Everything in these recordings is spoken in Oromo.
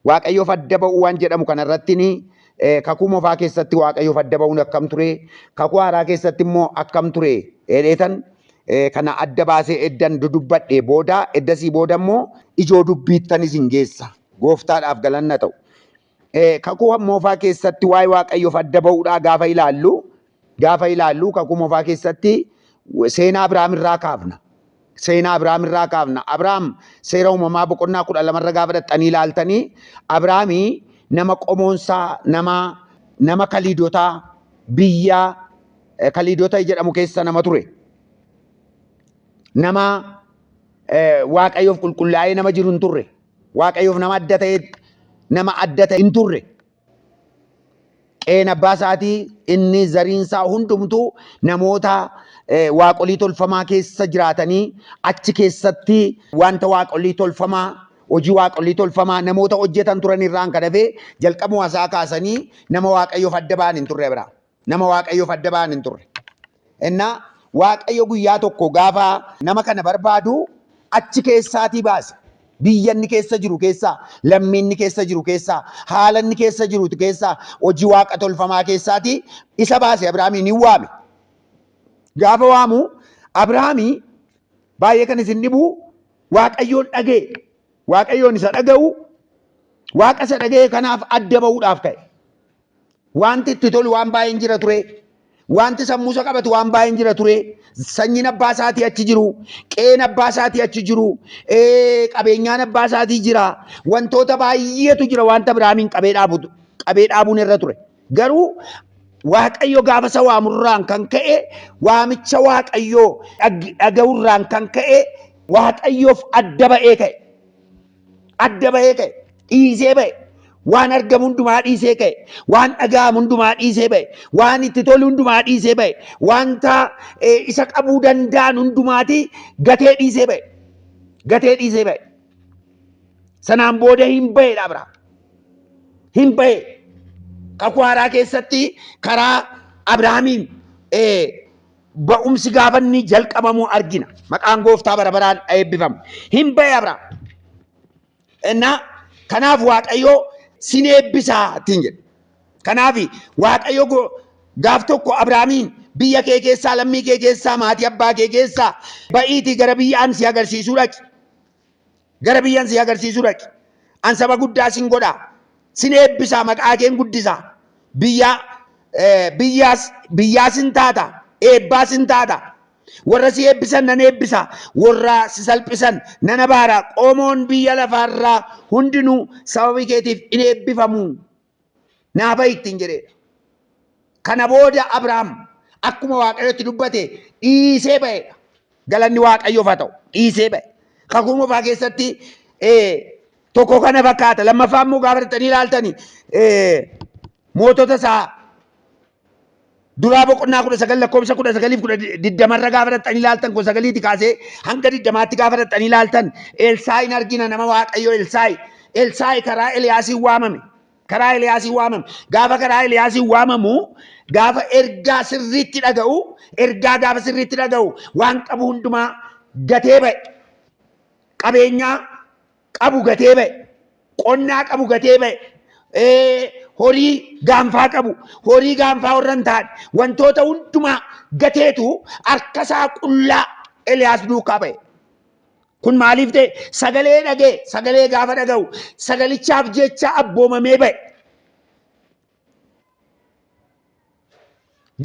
Waaqayyoof adda ba'uu waan jedhamu kana irratti kakuu mofaa keessatti waaqayyoof adda ba'uun akkam ture kakuu haaraa keessatti immoo akkam ture jedheetan kana adda baasee eddan dudubbadhe booda eddasii booda immoo ijoo dubbiittan isin geessa gooftaadhaaf galanna ta'u. Kakuu mofaa keessatti waa'ee waaqayyoof adda ba'uudhaa gaafa ilaallu gaafa ilaallu kakuu mofaa keessatti seenaa Abiraam irraa kaafna. Seenaa Abiraam irraa kaafna. Abiraam seera uumamaa boqonnaa kudha lama irra gaafa dhaxxanii ilaaltanii Abiraami nama qomoonsaa nama nama kaliidotaa biyya eh, kaliidota jedhamu keessa nama ture. Nama eh, waaqayyoof qulqullaa'ee nama jiru hin turre. Waaqayyoof nama adda ta'e nama adda ta'e hin turre. qeen abbaa isaatii inni zariin isaa hundumtuu namoota eh, waaqolii tolfamaa keessa jiraatanii achi keessatti wanta waaqolii tolfamaa hojii waaqolii tolfamaa namoota hojjetan turan irraan kan hafee jalqabuma isaa kaasanii nama waaqayyoof adda ba'an hin turre bira. Nama Waaqayyoof adda ba'an hin turre. Ennaa Waaqayyo guyyaa tokko gaafa nama kana barbaadu achi keessaatii baase. Biyya inni keessa jiru keessaa, lammii inni keessa jiru keessaa, haala inni keessa jiru keessaa, hojii waaqa tolfamaa keessaatii isa baase Abrahaamiin hin waame. Gaafa waamu Abrahaamii baay'ee kan isin dhibu Waaqayyoon dhaga'e. Waaqayyoon isa dhaga'u Waaqa isa dhaga'e kanaaf adda ba'uudhaaf ka'e. Wanti itti tolu waan baay'een jira ture. Wanti sammuusa qabatu waan baay'een jira ture. Sanyiin abbaa isaatii achi jiru, qe'een abbaa isaatii achi jiru, ee, qabeenyaan abbaa isaatii jira. Wantoota baay'eetu jira wanta Abrahaamiin qabee dhaabu qabee dhaabuun irra ture. Garuu Waaqayyo gaafa isa waamurraan kan ka'e waamicha Waaqayyoo dhag- dhaga'urraan kan ka'e Waaqayyoof adda ba'ee ka'e. adda bahee ka'e dhiisee ba'e waan argamu hundumaa dhiisee ka'e waan dhaga'amu hundumaa dhiisee ba'e waan itti tolu hundumaa dhiisee ba'e wanta eh, isa qabuu danda'an hundumaati gatee dhiisee ba'e gatee dhiisee ba'e sanaan booda hin ba'edha Abrahaam hin ba'e kakuu haaraa keessatti karaa Abrahaamiin eh, ba'umsi gaafa inni jalqabamuu argina. Maqaan gooftaa bara baraan eebbifamu. Hin ba'e Abraam. Innaa kanaaf Waaqayyoo sin eebbisaa ittiin jedhe. Kanaaf Waaqayyo go- gaaf tokko Abraamiin biyya kee keessaa lammii kee keessaa maatii abbaa kee keessaa ba'iitii gara biyya ani si agarsiisuu dhaqi. Gara biyyan si agarsiisu dhaqi. An saba guddaa sin godha. Sin eebbisaa maqaa keen guddisa. Biyyaa biyyaas biyyaa sin taata. Eebbaa sin taata. Warra si eebbisan nan eebbisa. Warra si salphisan nan abaara. Qomoon biyya lafaarraa hundinuu sababii keetiif in eebbifamu naa bahi ittiin jedheedha. Kana booda Abrahaam akkuma Waaqayyotti dubbate dhiisee ba'eedha. Galanni Waaqayyoof haa ta'u dhiisee ba'e. Kakuu moofaa keessatti tokko kana fakkaata. Lammaffaa immoo gaafatanii ilaaltanii mootota isaa Duraa boqonnaa kudha sagal lakkoofsa kudha sagaliif kudha diddamarra gaafa dhaqxanii ilaaltan kudha sagaliiti kaasee hanga diddamaatti gaafa dhaqxanii ilaaltan Elsaa'iin argina nama Waaqayyo Elsaa'i. Elsaa'i karaa Eliyaasiin waamame. Karaa Eliyaasiin waamame. Gaafa karaa Eliyaasiin waamamu gaafa ergaa sirriitti dhaga'u ergaa gaafa sirriitti dhaga'u waan qabu hundumaa gatee ba'e. Qabeenyaa qabu gatee ba'e, qonnaa qabu gatee ba'e, horii gaanfaa qabu, horii gaanfaa warra hin taane, wantoota hundumaa gateetu harkasaa qullaa Eliyaas duukaa ba'e. Kun maaliif ta'e? Sagalee dhaga'e, sagalee gaafa dhaga'u, sagalichaaf jecha abboomamee ba'e.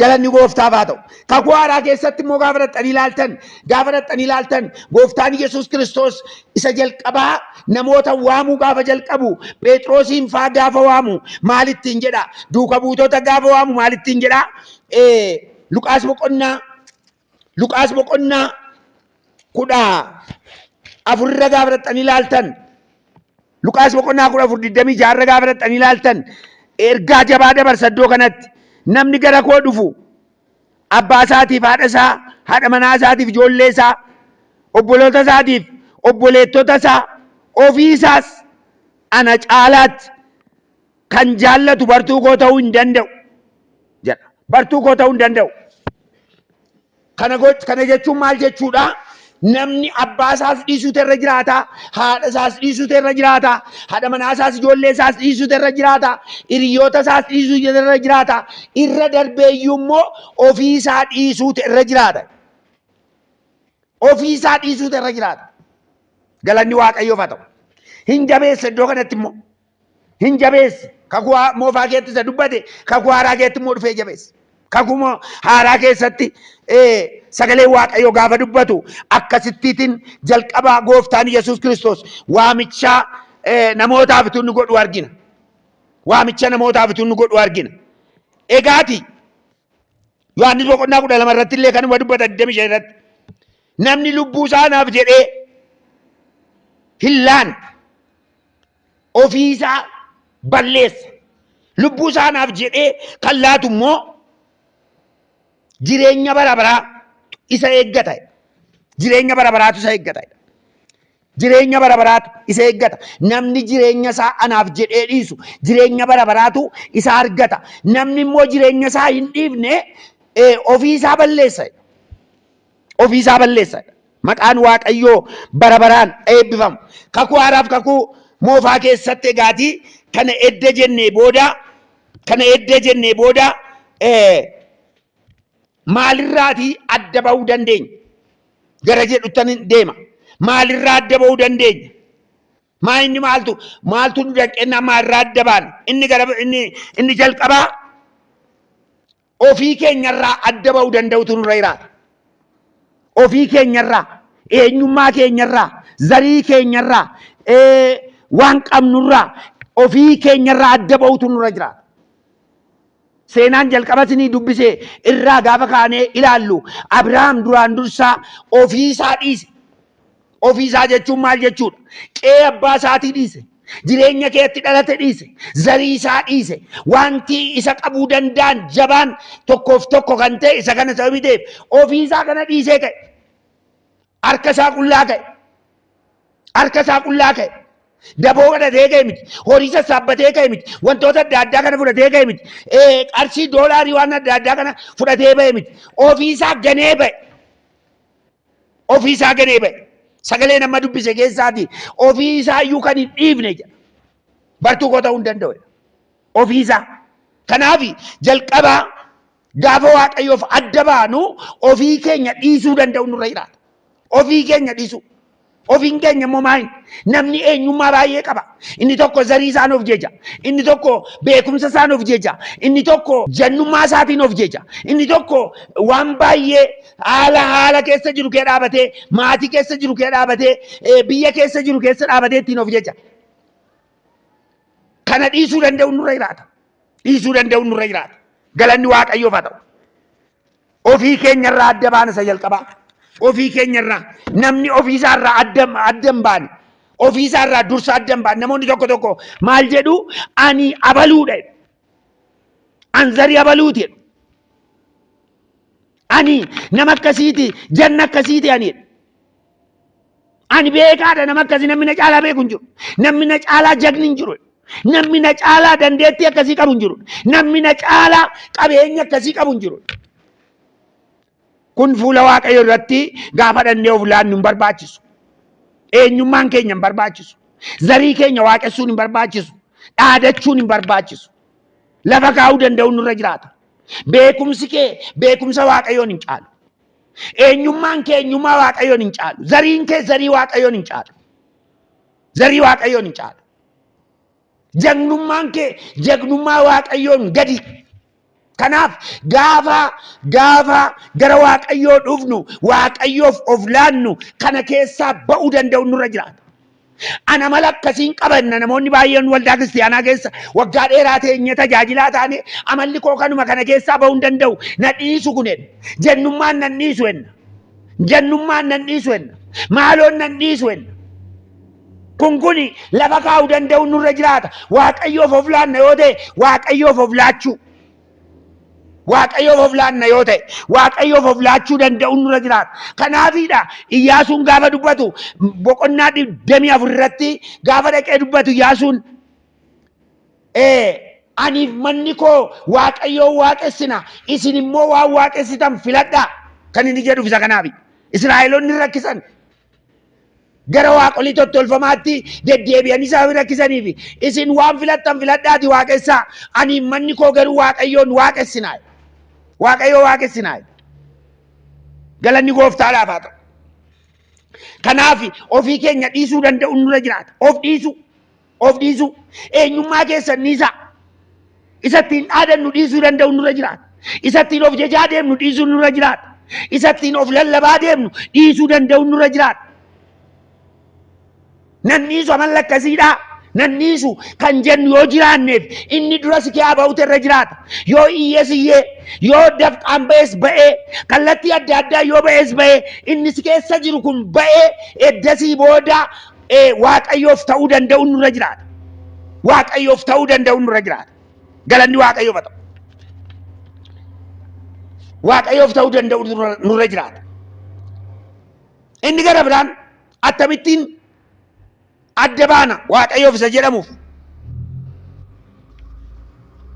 Galanni gooftaaf haa ta'u. Kakuu haaraa keessatti immoo gaafa dhaqxanii ilaaltan, gaafa dhaqxanii ilaaltan gooftaan Yesuus Kiristoos isa jalqabaa namoota waamuu gaafa jalqabu Pheexroosiin faa gaafa waamu maalittiin jedha? Duuka buutota gaafa waamu maalittiin jedha? Luqaas boqonnaa Luqaas boqonnaa kudha afur irra gaafa dhaqxanii ilaaltan Luqaas boqonnaa kudha afur digdamii ja'a irra gaafa dhaqxanii ilaaltan ergaa jabaa dabarsa iddoo kanatti namni gara koo dhufu abbaa isaatiif haadha isaa haadha manaa isaatiif ijoollee isaa obboloota isaatiif obboleettota isaa ofii isaas ana caalaatti kan jaallatu bartuu koo ta'uu hin danda'u jedha. Bartuu koo ta'uu hin danda'u. Kana goch- kana jechuun maal jechuudha? Namni abbaa isaas dhiisuutu irra jiraata, haadha isaas dhiisuutu irra jiraata, haadha manaa isaas ijoollee isaas dhiisuutu irra jiraata, hiriyoota isaas dhiisuutu irra jiraata, irra darbeeyyuu immoo ofii isaa dhiisuutu irra jiraata. Ofii isaa dhiisuutu irra jiraata. Galanni Waaqayyoof haa ta'u. Hin jabeessa iddoo kanatti immoo. hin jabeessi. Kakuu haa- moofaa keetti isa dubbate kakuu haaraa keetti immoo dhufee jabeessi. Kakuu moo- haaraa keessatti eh, sagalee Waaqayyoo gaafa dubbatu akkasittiitiin jalqabaa gooftaan Yesuus Kiristoos waamichaa eh, namootaaf utuu inni godhu argina. Waamicha namootaaf utuu inni godhu argina. Egaati Yohaannis boqonnaa kudha lama irratti illee kanuma dubbata 25 irratti namni lubbuu isaa naaf jedhee hin laanne ofii isaa balleessa. Lubbuu isaa naaf jedhee kan laatu immoo jireenya bara baraa isa eeggata. Jireenya bara baraatu isa eeggata. Jireenya bara baraatu isa eeggata. Namni jireenya isaa anaaf jedhee dhiisu jireenya bara baraatu isa argata. Namni immoo jireenya isaa hin dhiifne eh, ofii isaa balleessa. ofii isaa balleessa. Maqaan Waaqayyoo bara baraan eebbifamu. Kakuu haaraaf kakuu moofaa keessatti egaati kana edda jennee booda kana edda jennee booda maalirraatii adda ba'uu dandeenya? Gara jedhuttan deema. Maalirraa adda ba'uu dandeenya? Maa inni maaltu maaltu nu danqennaa maalirraa adda baana? Inni gara inni inni jalqabaa ofii keenyarraa adda ba'uu danda'utu nurra jiraata. Ofii keenyarraa, eenyummaa keenyarraa, zarii keenyarraa, waan qabnurraa, ofii keenyarraa adda ba'utu nurra jiraata. Seenaan jalqaba isinii dubbise irraa gaafa kaanee ilaallu Abrahaam duraan dursaa ofiisaa dhiise. Ofii isaa jechuun maal jechuudha? Qe'ee abbaa isaatii dhiise, jireenya keetti dhalate dhiise, zarii isaa dhiise, wanti isa qabuu danda'an jabaan tokkoof tokko kan ta'e isa kana sababii ta'eef ofii isaa kana dhiisee ka'e. Harka isaa qullaa ka'e. Harka isaa qullaa ka'e. Daboo godhatee ka'e miti. Horii sassaabbatee ka'e miti. Wantoota adda addaa kana fudhatee ka'e miti. Ee, Qarshii doolaarii waan adda addaa kana fudhatee ba'e miti. Ofii isaa ganee ba'e. Ofii isaa ganee ba'e. Sagalee nama dubbise keessaatii ofii isaa iyyuu kan hin dhiifne jedha. Bartuu koo ta'uu hin danda'u jedha. Ofii isaa. Kanaaf jalqabaa gaafa waaqayyoof adda baanu ofii keenya dhiisuu danda'u nurra jiraata. Ofii keenya dhiisuu. Ofiin keenya immoo maali? Namni eenyummaa baay'ee qaba. Inni tokko zarii isaan of jeja. Inni tokko beekumsa isaan of jeja. Inni tokko jannummaa isaatiin of jeja. Inni tokko waan baay'ee haala haala keessa jiru kee dhaabatee, maatii keessa jiru kee dhaabatee, eh, biyya keessa jiru keessa dhaabatee ittiin of jeja. Kana dhiisuu danda'u nurra jiraata. Dhiisuu danda'u nurra jiraata. Galanni Waaqayyoof haa ta'u. Ofii keenya irraa adda baana isa jalqabaa. Ofii keenya irraa namni ofii isaa irraa adda adda hin baane. Ofii isaa irraa dursa adda hin baane. Namoonni tokko tokko maal jedhu ani abaluudha. jedhu. An zarii abaluuti. jedhu. Ani nama akkasiiti janna akkasiiti ani. jedhu. Ani beekaadha nama akkasii namni na caalaa beeku hin jiru. Namni na caalaa jagni hin jiru. Namni na caalaa dandeettii akkasii qabu hin jiru. Namni na caalaa qabeenya akkasii qabu hin jiru. Kun fuula Waaqayyo irratti gaafa dhannee of laannu hin barbaachisu. Eenyummaan keenya hin barbaachisu. Zarii keenya waaqessuun hin barbaachisu. Dhaadachuun hin barbaachisu. Lafa kaa'uu danda'uun nurra jiraata. Beekumsi kee beekumsa Waaqayyoon hin caalu. Eenyummaan kee eenyummaa Waaqayyoon hin caalu. Zariin kee zarii Waaqayyoon hin caalu. Zarii Waaqayyoon hin caalu. Jagnummaan kee jagnummaa Waaqayyoon gadi. Kanaaf gaafa gaafa gara Waaqayyoo dhufnu Waaqayyoof of laannu kana keessaa ba'uu danda'u nurra jiraata. Ana mala akkasiin qaba inna namoonni baay'een waldaa kiristiyaanaa keessa waggaa dheeraa teenyee tajaajilaa taane amalli koo kanuma kana keessaa ba'uu hin danda'u na dhiisu kun enna jennummaan nan dhiisu enna jennummaan nan dhiisu enna maaloon nan dhiisu enna kun kun lafa kaa'uu danda'uun nurra jiraata waaqayyoof of laanna yoo ta'e waaqayyoof of laachuu Waaqayyoof of laanna yoo ta'e, Waaqayyoof of laachuu danda'uun nurra jiraata. Kanaafiidha Iyyaasuun gaafa dubbatu boqonnaa digdamii afur irratti gaafa dhaqee dubbatu Iyyaasuun aniif manni koo Waaqayyoo waaqessina isin immoo waan waaqessitan filadhaa kan inni jedhuuf isa kanaafi. Israa'eloonni rakkisan gara waaqolii tottolfamaatti deddeebi'an isa rakkisaniif isin waan filattan filadhaati waaqessaa ani manni koo garuu waaqayyoon waaqessinaa waaqayyoo waaqessinaa galanni gooftaadhaaf haa ta'u. Kanaaf ofii keenya dhiisuu danda'uun nurra jiraata. Of dhiisuu. of dhiisuu eenyummaa keessan dhiisaa isa ittiin dhaadannu dhiisuu danda'u nurra jiraata isa ittiin of jajaa deemnu dhiisuu nurra jiraata isa ittiin of lallabaa deemnu dhiisuu danda'u nurra jiraata nan dhiisu amalla akkasiidhaa nan dhiisu kan jennu yoo jiraanneef inni dura si kiyaa ba'utu irra jiraata yoo iyyees iyyee yoo dafqaan ba'es ba'ee kallattii adda addaa yoo ba'es ba'ee inni si keessa jiru kun ba'ee eddasii booda Ee, Waaqayyoof ta'uu danda'uun nurra jiraata. Waaqayyoof ta'uu danda'uun nurra jiraata. Galanni Waaqayyoof haa ta'u. Waaqayyoof ta'uu danda'uun nurra- nurra jiraata. Inni gara biraan akkamittiin adda baana Waaqayyoof isa jedhamuuf.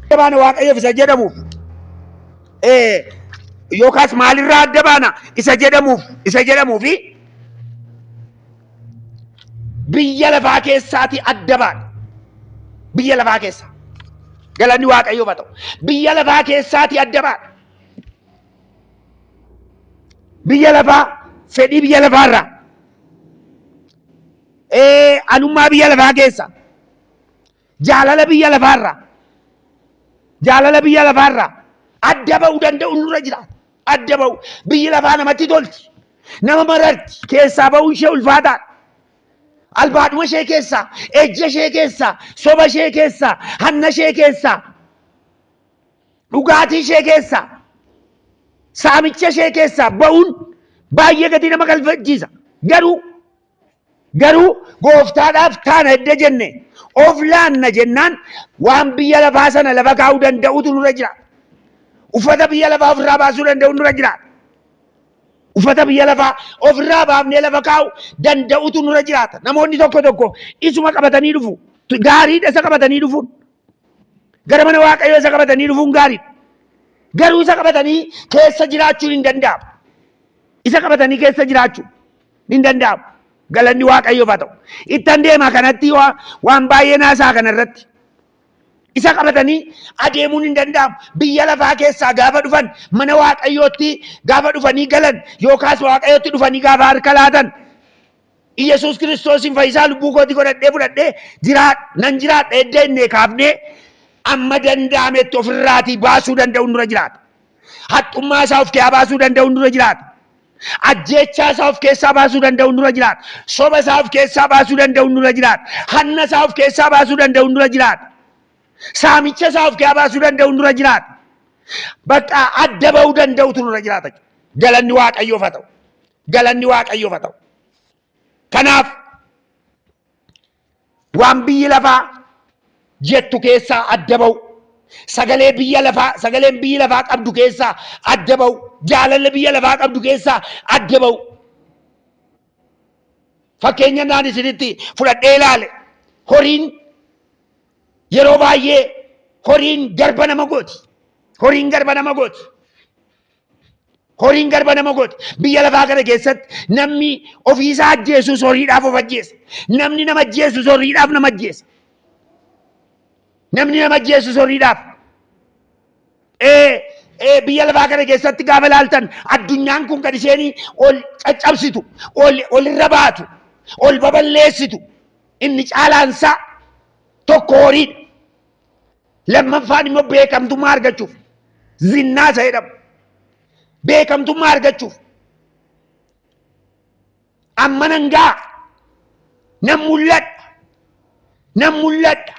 Adda baana Waaqayyoof isa jedhamuuf. Ee, yookaas maalirraa adda baana isa jedhamuuf isa jedhamuufi biyya lafaa keessaatii adda baane biyya lafaa keessaa galanni waaqayyoof haa ta'u biyya lafaa keessaatii adda baane biyya lafaa fedhii biyya lafaarraa ee anummaa biyya lafaa keessa Jaalala biyya lafaarraa jaalala biyya lafaarraa adda ba'uu danda'u nurra jiraata. Adda ba'u biyyi lafaa namatti tolti. Nama mararti keessaa ba'uun ishee ulfaataadha. Albaadhuma ishee keessaa, ejja ishee keessaa, soba ishee keessaa, hanna ishee keessaa, dhugaatii ishee keessaa, saamicha ishee keessaa ba'uun baay'ee gatii nama galfachiisa. Garuu Garuu gooftaadhaaf taana edda jenne of laanna jennaan waan biyya lafaa sana lafa kaa'uu danda'utu nurra jira. Uffata biyya lafaa ofirraa baasuu danda'u nurra jira. Uffata biyya lafaa ofirraa baafnee lafa kaa'u danda'utu nurra jiraata. Namoonni tokko tokko isuma qabatanii dhufu. Gaariidha isa qabatanii dhufuun. Gara mana waaqayyoo isa qabatanii dhufuun gaariidha. Garuu isa qabatanii keessa jiraachuun hin danda'amu. Isa qabatanii keessa jiraachuun. Hin danda'amu. Galanni Waaqayyoof haa ta'u. Ittan deema kanatti waa- waan baay'een haasa'a kana irratti. Isa qabatanii adeemuun hin danda'amu. Biyya lafaa keessaa gaafa dhufan mana Waaqayyootti gaafa dhufanii galan yookaas Waaqayyootti dhufanii gaafa harka laatan Iyyasuus Kiristoosiin fayyisaa lubbuu kootii godhadhee fudhadhee jiraa nan jiraadha edda innee kaafnee amma danda'ametti ofirraatii baasuu danda'uun dura jiraata. Haxxummaa isaa of keessaa baasuu danda'uun dura jiraata. Ajjeechaa isaa of keessaa baasuu danda'u nurra jiraata. Soba isaa of keessaa baasuu danda'u nurra jiraata. Hanna isaa of keessaa baasuu danda'u nurra jiraata. Saamicha isaa of keessaa baasuu danda'u nurra jiraata. Bakka adda ba'uu danda'utu nurra jiraata. Galanni Waaqayyoof haa ta'u. Galanni Waaqayyoof haa ta'u. Kanaaf Waan biyyi lafaa jettu keessaa adda ba'u. Sagalee biyya lafaa sagaleen biyyi lafaa qabdu keessaa adda ba'u. Jaalalli biyya lafaa qabdu keessaa adda ba'u. Fakkeenya naan isinitti fudhadhee ilaale horiin yeroo baay'ee horiin garba nama gooti. Horiin garba nama gooti. Horiin garba nama godhe. Biyya lafaa kana keessatti namni ofiisaa ajjeesus horiidhaaf of ajjeesa. Namni nama ajjeesus horiidhaaf nama ajjeesa. Namni nama ajjeesus horiidhaaf. Ee, ee, biyya lafaa kana keessatti gaafa ilaaltan addunyaan kun kan isheen ol caccabsitu, ol olirra baatu, ol baballeessitu inni caalaansaa tokko horiidha. Lammaffaan immoo beekamtummaa argachuuf zinnaa isa jedhamu. Beekamtummaa argachuuf amma nan ga'a nan mul'adha nan mul'adha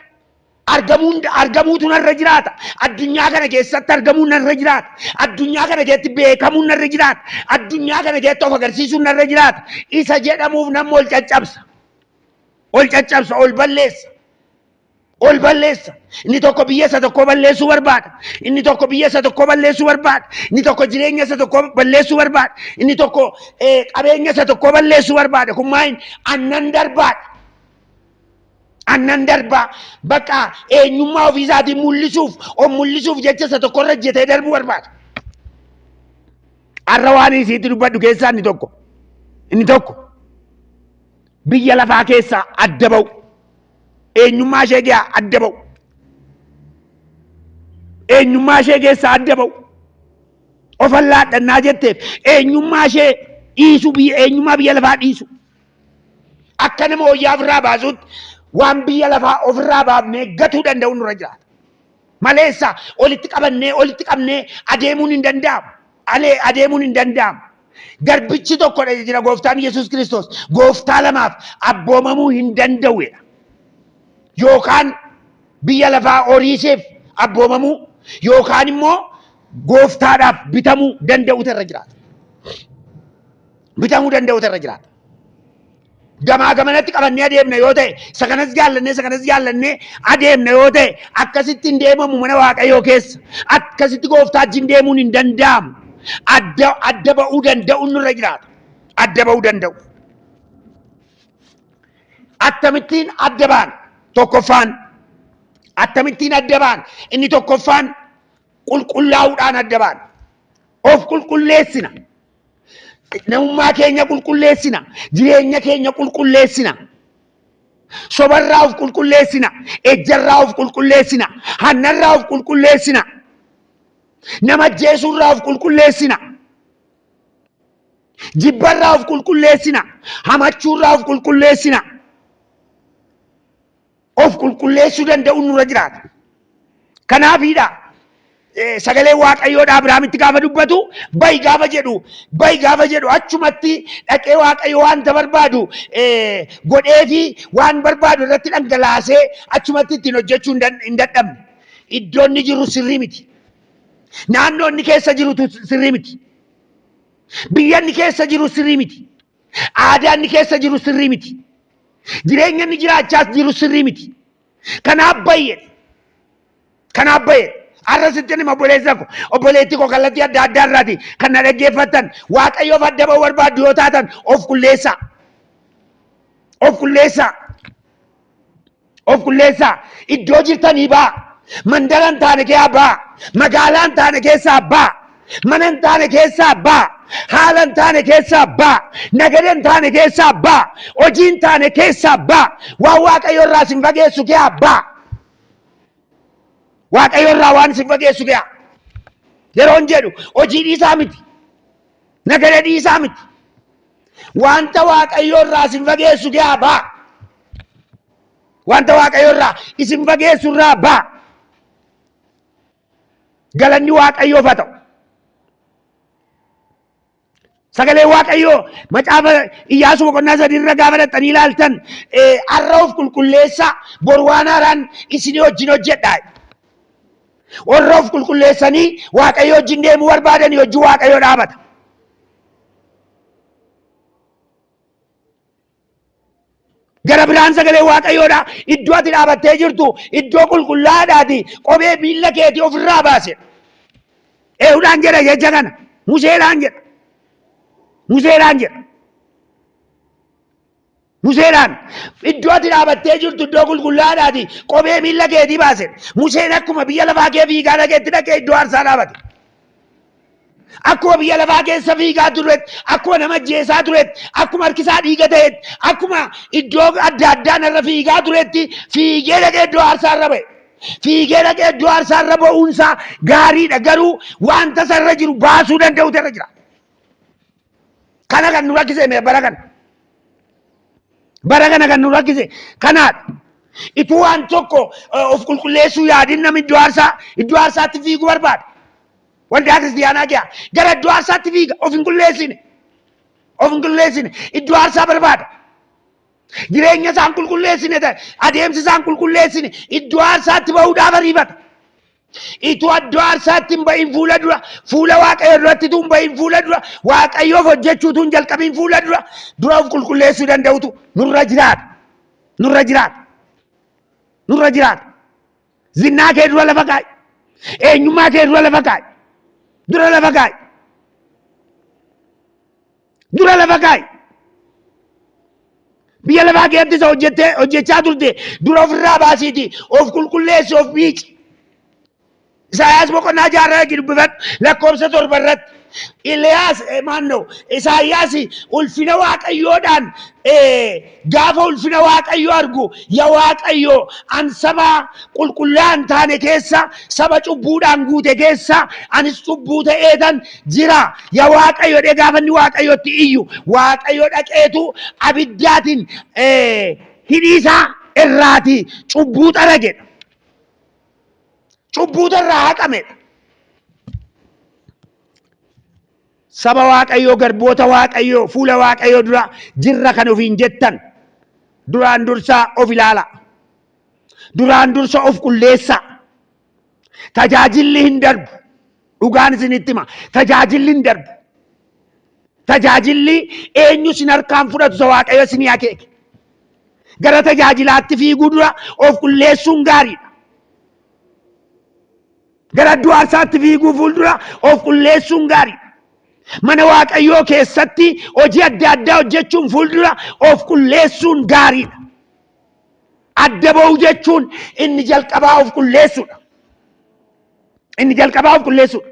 argamuun argamuutu narra jiraata addunyaa kana keessatti argamuun narra jiraata addunyaa kana keessatti beekamuun narra jiraata addunyaa kana keessatti of agarsiisuun narra jiraata isa jedhamuuf namni ol caccabsa ol caccabsa ol balleessa ol balleessa. Inni tokko biyya isa tokkoo balleessuu barbaada. Inni tokko biyya isa tokkoo balleessuu barbaada. Inni tokko jireenya isa tokkoo balleessuu barbaada. Inni tokko eh, qabeenya isa tokkoo balleessuu barbaada. Kun maaliin annan darbaadha. Annan darbaa bakka eenyummaa ofii isaatiin mul'isuuf of mul'isuuf jecha isa tokko irra jetee darbuu barbaada. Har'a waan isiitti dubbadhu keessaa inni tokko. Inni tokko biyya lafaa keessaa adda ba'u. eenyummaa ishee kee adda ba'u eenyummaa ishee keessaa adda ba'u of allaadhannaa jetteef eenyummaa ishee dhiisu biyya eenyummaa biyya lafaa dhiisu akka nama wayyaa ofirraa baasuutti waan biyya lafaa ofirraa baafnee gatuu danda'u nurra jiraata. Maleessa walitti qabannee walitti qabnee adeemuun hin danda'amu. alee adeemuun hin danda'amu. Garbichi tokkodha jira gooftaan Yesuus Kiristoos. Gooftaa lamaaf abboomamuu hin danda'uedha. Yookaan biyya lafaa horiiseef abboomamuu yookaan immoo gooftaadhaaf bitamuu danda'utu irra jiraata. Bitamuu danda'utu irra jiraata. gamaa gamanatti qabannee adeemna yoo ta'e isa kanas jaallannee isa kanas jaallannee adeemna yoo ta'e akkasitti hin deemamu mana waaqayyoo keessa akkasitti gooftaa wajjin deemuun hin danda'amu adda adda ba'uu danda'uun nurra jiraata adda ba'uu danda'u akkamittiin adda baan tokkoffaan akkamittiin adda baan inni tokkoffaan qulqullaa'uudhaan adda baan of qulqulleessina Namummaa keenya qulqulleessina. Jireenya keenya qulqulleessina. Sobarraa of qulqulleessina. Ejjarraa of qulqulleessina. Hannarraa of qulqulleessina. Nama ajjeesuurraa of qulqulleessina. Jibbarraa of qulqulleessina. Hamachuurraa of qulqulleessina. of qulqulleessuu danda'uun nurra jiraata. Kanaafiidha eh, sagalee Waaqayyoodha Abiraamitti gaafa dubbatu bayi gaafa jedhu bayi gaafa jedhu achumatti dhaqee Waaqayyo wanta barbaadu eh, godheefi waan barbaadu irratti dhangalaasee achumatti ittiin hojjechuu hin dan- hin dadhabne. Iddoon inni jiru sirrii miti. Naannoo inni keessa jirutu sirrii miti. Biyya inni keessa jiru sirrii miti. Aadaa inni keessa jiru sirrii miti. Jireenya inni jiraachaas jiru sirrii miti. Kanaaf bayyee kanaaf bayyee har'a sittin hima obboleessa ko obboleetti ko kallattii adda addaa irraati kan na dhaggeeffattan waaqayyoof adda ba'uu barbaaddu yoo taatan of qulleessaa. Of qulleessaa. Of qulleessaa. Iddoo jirtanii baa. Mandara hin taane keessaa baa. Magaalaa hin taane keessaa baa. Mana hin taane keessaa baa. Haala hin taane keessaa baa. Nagada hin taane keessaa baa. Hojii hin taane keessaa baa. Waan Waaqayyo irraa sin fageessu keessaa baa. Waaqayyo irraa waan sin fageessu keessaa. Yeroon jedhu hojii dhiisaa miti. Nagada dhiisaa miti. Wanta Waaqayyo irraa sin fageessu keessaa baa. Wanta Waaqayyo irraa isin fageessu irraa baa. Galanni Waaqayyoof haa ta'u. Sagalee Waaqayyoo macaafa Iyyaasuu boqonnaa sadii irra gaafa dhaqxanii ilaaltan har'a of qulqulleessaa bor waan haaraan isinii wajjin hojjedhaa. Warra of qulqulleessanii Waaqayyo wajjin deemuu barbaadanii hojii Waaqayyo dhaabata. Gara biraan sagalee waaqayyoodha. Iddoo ati dhaabattee jirtu iddoo qulqullaa'aadhaati. Qobee miilla keetii ofirraa baase. Eehudhaan jedha jecha kana. Museedhaan jedha. Museedhaan jedha. Museedhaan iddoo ati dhaabattee jirtu iddoo qulqullaa'aadhaati. Qobee miilla keetii baase. Museen akkuma biyya lafaa kee fiigaa dhaqeetti dhaqee iddoo aarsaa dhaabate. akkuma biyya lafaa keessa fiigaa turetti akkuma nama ajjeesaa turetti akkuma harkisaa dhiiga ta'etti akkuma iddoo adda addaa narra fiigaa turetti fiigee dhaqee iddoo aarsaa irra ba'e. Fiigee dhaqee iddoo aarsaa irra ba'uunsaa gaariidha garuu wanta isa irra jiru baasuu danda'utu irra jira. Kana kan nu rakkise mee bara kana. Bara kana kan nu rakkise kanaadha. Ituu waan tokko eh, of qulqulleessuu yaadin namni iddoo aarsaa iddoo aarsaatti fiiguu barbaada. Waldaa kiristiyaanaa kiyaa gara iddoo aarsaatti fiiga of hin qulleessine. Of hin qulleessine iddoo aarsaa barbaada. Jireenya isaa hin qulqulleessine ta'e adeemsi isaa hin qulqulleessine iddoo aarsaatti bahuudhaaf ariifata. Ituu iddoo aarsaatti hin bahin fuula dura fuula waaqayyo duratti tun bahin fuula dura waaqayyoof hojjechuu tun jalqabiin fuula dura dura of qulqulleessuu danda'utu nurra jiraata. Nurra jiraata. Nurra jiraata. Zinnaa kee dura lafa kaa'i. Eenyummaa kee dura lafa kaa'i. Dura lafa kaa'i. Dura lafa kaa'i. Biyya lafaa keessatti isa hojjettee hojjechaa turte dura ofirraa baasiiti of qulqulleessi of miici. Isaayaas boqonnaa jaarraa itti dubbifadhu lakkoofsa torba irratti. Iliyaas maannoo Isaayyaas ulfina waaqayyoodhaan gaafa ulfina waaqayyoo argu ya waaqayyoo an saba qulqullaa'an taane keessa saba cubbuudhaan guute keessa anis cubbuu ta'eetan jira ya waaqayyo dhee gaafa inni waaqayyotti iyyu waaqayyo dhaqeetu abiddaatiin hidhiisaa irraati cubbuu xaragedha. Cubbuutu irraa haqamedha. Saba Waaqayyoo, garboota Waaqayyoo, fuula Waaqayyoo dura jirra kan ofiin jettan duraan dursaa of ilaala. Duraan dursa of qulleessa. Tajaajilli hin darbu. Dhugaan isinitti hima. Tajaajilli hin darbu. Tajaajilli eenyu isin harkaan fudhatu isa Waaqayyo isinii akeeke. Gara tajaajilaatti fiiguu dura of qulleessuun gaariidha. Gara iddoo aarsaatti fiiguu fuuldura of qulleessuun gaariidha. Mana Waaqayyoo keessatti hojii adda addaa hojjechuun fuuldura of qulleessuun gaariidha. Adda ba'uu jechuun inni jalqabaa of qulleessuudha. Inni jalqabaa of qulleessuudha.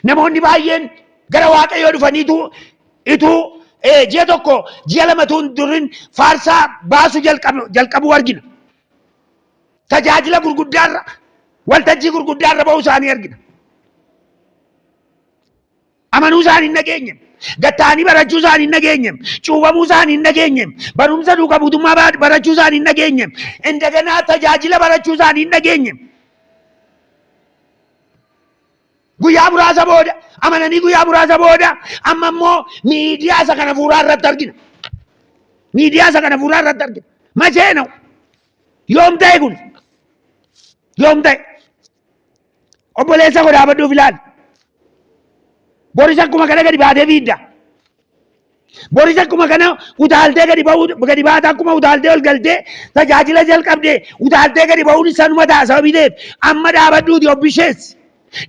Namoonni baay'een gara waaqayyoo dhufaniitu ituu eh, ji'a tokko ji'a lamatu hin durin faarsaa baasuu jalqabu- jalqabuu argina. Tajaajila gurguddaarra waltajjii gurguddaarra ba'uu isaanii argina. Amanuu isaanii hin dhageenye. Gad ta'anii barachuu isaanii hin dhageenye. Cuubamuu isaanii hin dhageenye. Barumsa duuka buutummaa ba- barachuu isaanii hin dhageenye. Indaganaa tajaajila barachuu isaanii hin dhageenye. Guyyaa muraasa booda amananii guyyaa muraasa booda amma immoo miidiyaa isa kana fuuraa irratti argina. Miidiyaa isa kana fuuraa irratti argina. Machee na'u. Yoom ta'e kun? Yoom ta'e? Obboleessa koo dhaabadhuuf ilaali. Boris akkuma kana gadi baatee fiidda. Boris akkuma kana utaaltee gadi ba'uu gadi baata akkuma utaaltee ol galtee tajaajila jalqabdee utaaltee gadi ba'uun isaanuma ta'a sababii ta'eef amma dhaabadhuuti obbishees.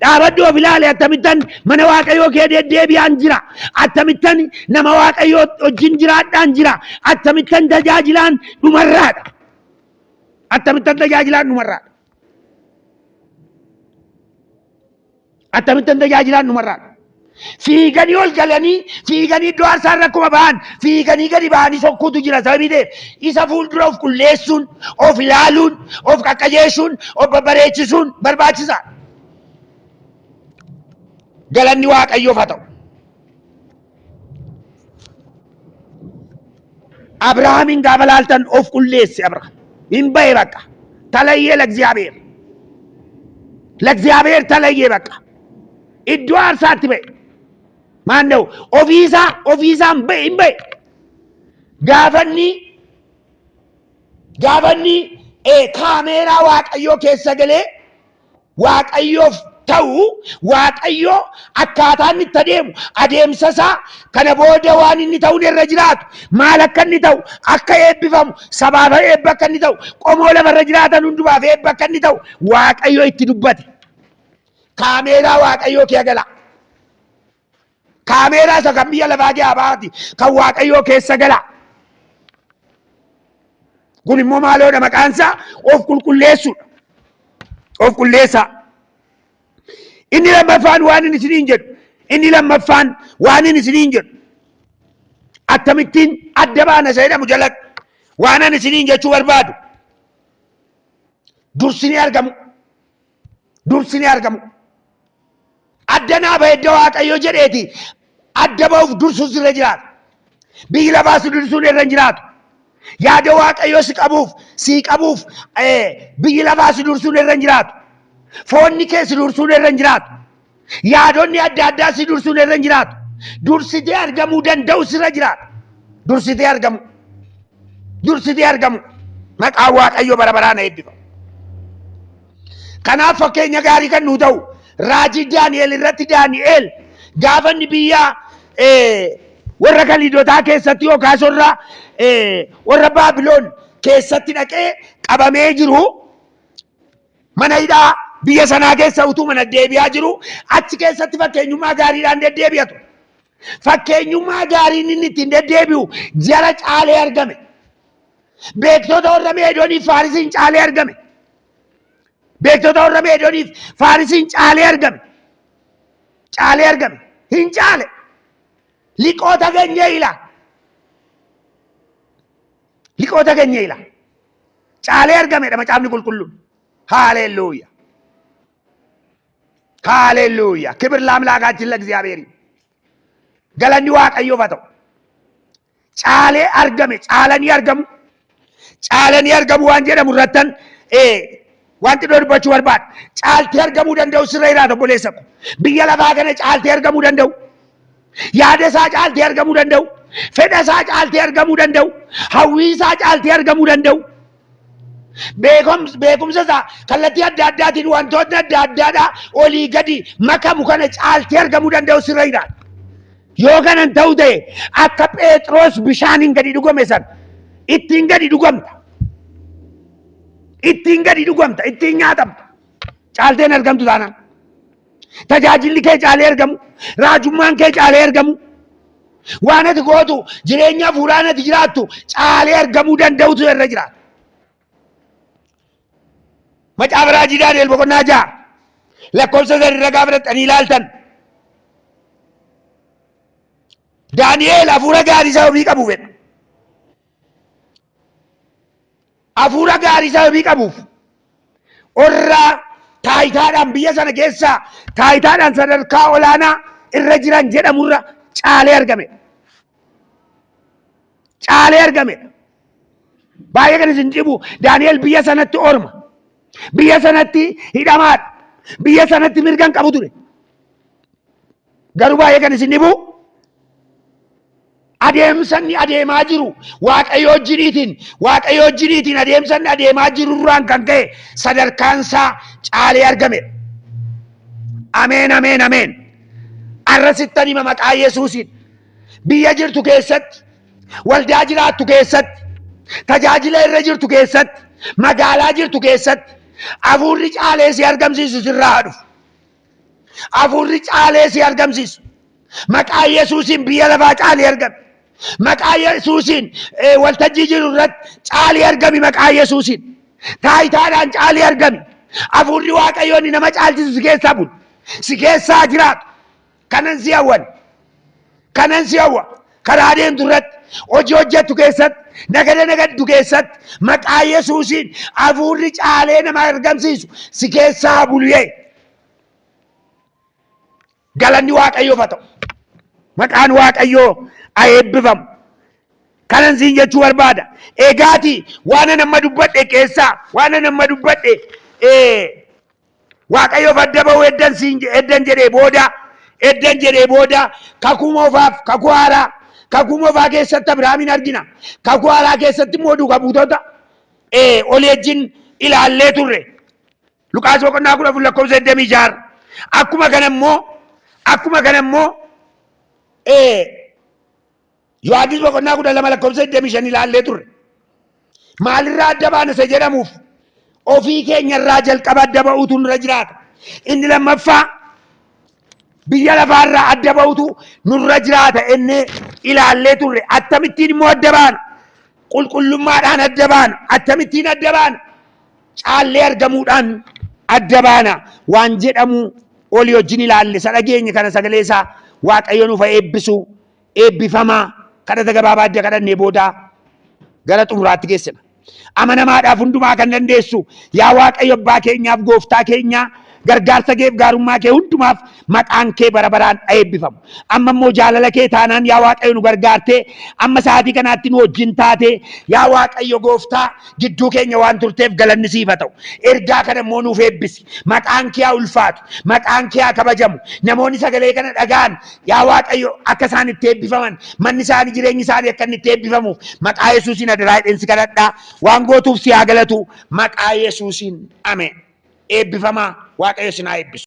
Dhaabadhu of ilaali attamittan mana waaqayyoo kee deddeebi'aan jira. Attamittan nama waaqayyoo wajjin jiraadhaan jira. Attamittan tajaajilaan dhumarraadha. Attamittan tajaajilaan dhumarraadha. Attamittan tajaajilaan dhumarraa fiiganii ol galanii fiiganii iddoo aarsaa irra akkuma ba'an fiiganii gadi ba'anii sokkuutu jira sababii ta'eef isa fuuldura of qulleessuun of ilaaluun of qaqqajeessuun of babbareechisuun barbaachisa. Galanni waaqayyoof haa ta'u. Abrahaamiin gaafa laaltan of qulleesse Abrahaam. Hin ba'e bakka. Talayyee Lagziyaabeer. Lagziyaabeer talayyee bakka. Iddoo aarsaatti ba'e. Maanna'u ofiisaa ofiisaan ba'e hin ba'e. Gaafanni gaafanni eh, kaameeraa waaqayyoo keessa galee Waaqayyoof ta'u Waaqayyo akkaataa inni itti adeemu adeemsa isaa kana booda waan inni ta'uun irra jiraatu maal akka inni ta'u akka eebbifamu sabaaf eebba akka inni ta'u qomoo lafarra jiraatan hundumaaf eebba akka inni ta'u Waaqayyo itti dubbate. Kaameeraa Waaqayyoo kee agalaa. Kaameeraa isa kan biyya lafaa kee abaati kan waaqayyoo keessa gala. Kun immoo maaloodha maqaan isaa of qulqulleessuudha. Of qulleessaa. Inni lammaffaan waan inni isiniin jedhu. Inni lammaffaan waan inni isiniin jedhu. Akkamittiin adda baana isa jedhamu jalatti waan ani isiniin jechuu barbaadu. Dursinee argamu. dursinee argamu. Adda naa bahe edda Waaqayyo jedheeti adda bahuuf dursuus irra jiraata. Biyyi lafaa si dursuun irra hin jiraatu. Yaada Waaqayyo si qabuuf sii qabuuf eh, biyyi lafaa si dursuun irra hin jiraatu. Foonni kee si dursuun irra hin jiraatu. Yaadonni adda addaa si dursuun irra hin jiraatu. Dursitee argamuu danda'u sirra jiraata. Dursitee argamu. Dursitee argamu. Maqaan Waaqayyo bara baraan eebbifamu. Kanaaf fakkeenya gaarii kan nuu ta'u raajii Daani'el irratti Daani'el gaafa inni biyya eh, warra Kaliidotaa keessatti yookaas warra eh, warra Baabiloon keessatti dhaqee qabamee jiru Mana hidhaa biyya sanaa keessa utuu mana deebi'aa jiru achi keessatti fakkeenyummaa gaariidhaan deddeebi'a ture. Fakkeenyummaa gaariin inni ittiin deddeebi'u jara caalee argame. Beektota warra Meedooniif Faarisiin caalee argame. Beektota warra Meedooniif Faarisiin caalee argame. Caalee argame. Hin caale. Liqoota keenya ila. Liqoota keenya ila. caalee argamedha macaafni qulqulluun. Haalelluuya. Haalelluuya. Kibir laamlaakaatiin lagziyaabeerii. Galanni waaqayyoof haa ta'u. Caalee argame caalanii argamu. Caalanii argamu waan jedhamu irrattan Wanti iddoo dubbachuu barbaadu caaltee argamuu danda'u sirra jiraata obboleessa ko. Biyya lafaa kana caaltee argamuu danda'u. Yaada isaa caaltee argamuu danda'u. Fedha isaa caaltee argamuu danda'u. Hawwii isaa caaltee argamuu danda'u. Beekumsa isaa kallattii adda addaatiin wantoonni adda addaadhaa olii gadi makamu kana caaltee argamuu danda'u sirra jiraata. Yoo kanan ta'u ta'e akka Pheexroos bishaaniin gadi dhugame sana ittiin gadi dhugamta. ittiin gadi dhugamta ittiin nyaatamta caalteen argamtu taanaan tajaajilli kee caalee argamu raajummaan kee caalee argamu waan ati gootu jireenya hafuuraan ati jiraattu caalee argamuu danda'utu irra jiraata. Macaafa raajii Daani'el boqonnaa ja'a lakkoofsa sadii irra gaafa dhaqxanii ilaaltan Daani'el hafuura gaarii isaa ofii qabu fedha. Afuura gaarii sababii qabuuf orraa taayitaadhaan biyya sana keessaa taayitaadhaan sadarkaa olaanaa irra jiran jedhamurra caalee argame. Caalee argame. Baay'ee kan isin dhibu Daani'el biyya sanatti orma. Biyya sanatti hidhamaadha. Biyya sanatti mirga hin qabu ture. Garuu baay'ee kan isin dhibu adeemsanni adeemaa jiru waaqayyo wajjiniitiin waaqayyo wajjiniitiin adeemsanni adeemaa jirurraan kan ka'e sadarkaan isaa caalee argame. Ameen ameen ameen. Arra sittan hima maqaa Yesuusiin biyya jirtu keessatti waldaa jiraattu keessatti tajaajila irra jirtu keessatti magaalaa jirtu keessatti hafuurri caalee si argamsiisu sirraa haa dhufu. Hafuurri caalee si argamsiisu. Maqaa Yesuusiin biyya lafaa caalii argami. Maqaa Yesuusiin eh, waltajjii jiru irratti caalii argami maqaa Yesuusiin. Taayitaadhaan caalii argami. Hafuurri Waaqayyoon nama caalchisu si keessaa bulu. Si keessaa jiraatu. Kanan si hawwan. kanan si hawwa karaa deemtu irratti hojii hojjettu keessatti nagada nagaddu keessatti maqaa yesuusiin hafuurri caalee nama argamsiisu si keessaa haa bulu yee galanni waaqayyoof haa ta'u maqaan waaqayyoo haa eebbifamu kanan siin jechuu barbaada egaati waanan amma dubbadhe keessaa waanan amma dubbadhe ee, Waaqayyoof adda ba'uu eddan siin je- eddan jedhee booda eddan jedhee booda kakuu moofaaf kakuu haaraa kakuu moofaa keessatti Abiraamiin argina kakuu haaraa keessatti immoo duuka buutota eh, olii wajjin ilaallee turre Luqaas boqonnaa kudha afur lakkoofsa digdamii ja'a akkuma kana immoo akkuma kana immoo eh, Yohaannis boqonnaa kudha lama lakkoofsa 25 ilaallee turre. Maalirraa adda baana isa jedhamuuf ofii keenyarraa jalqaba adda ba'uutu nurra jiraata. Inni lammaffaa biyya lafaarraa adda ba'uutu nurra jiraata ennee ilaallee turre. Akkamittiin immoo adda baana? Qulqullummaadhaan adda baana. Akkamittiin adda baana? Caallee argamuudhaan adda baana. Waan jedhamu olii wajjin ilaalle isa dhageenye kana sagalee isaa Waaqayyo nuuf haa eebbisu Eebbifamaa! Kadhata gabaabaa edda kadhannee booda gara xumuraatti geessina. Amanamaadhaaf hundumaa kan dandeessu yaa Waaqayyo abbaa keenyaaf gooftaa keenyaa gargaarsa keef gaarummaa kee hundumaaf maqaan kee bara baraan a eebbifamu. Amma immoo jaalala kee taanaan yaa Waaqayyo nu gargaartee amma sa'aatii kanaatti nu wajjin taatee yaa Waaqayyo gooftaa gidduu keenya waan turteef galanni siif haa ta'u. Ergaa kana immoo nuuf eebbisi. Maqaan kee haa ulfaatu. Maqaan kee haa kabajamu. Namoonni sagalee kana dhaga'an Yaa Waaqayyo akka isaan itti eebbifaman manni isaanii jireenyi isaanii akka inni itti eebbifamuuf maqaa Yesuusiin adaraa jedheen si kadhadhaa waan gootuuf si haa galatu maqaa Yesuusiin ameen eebbifamaa Waaqayyo isin haa eebbisu.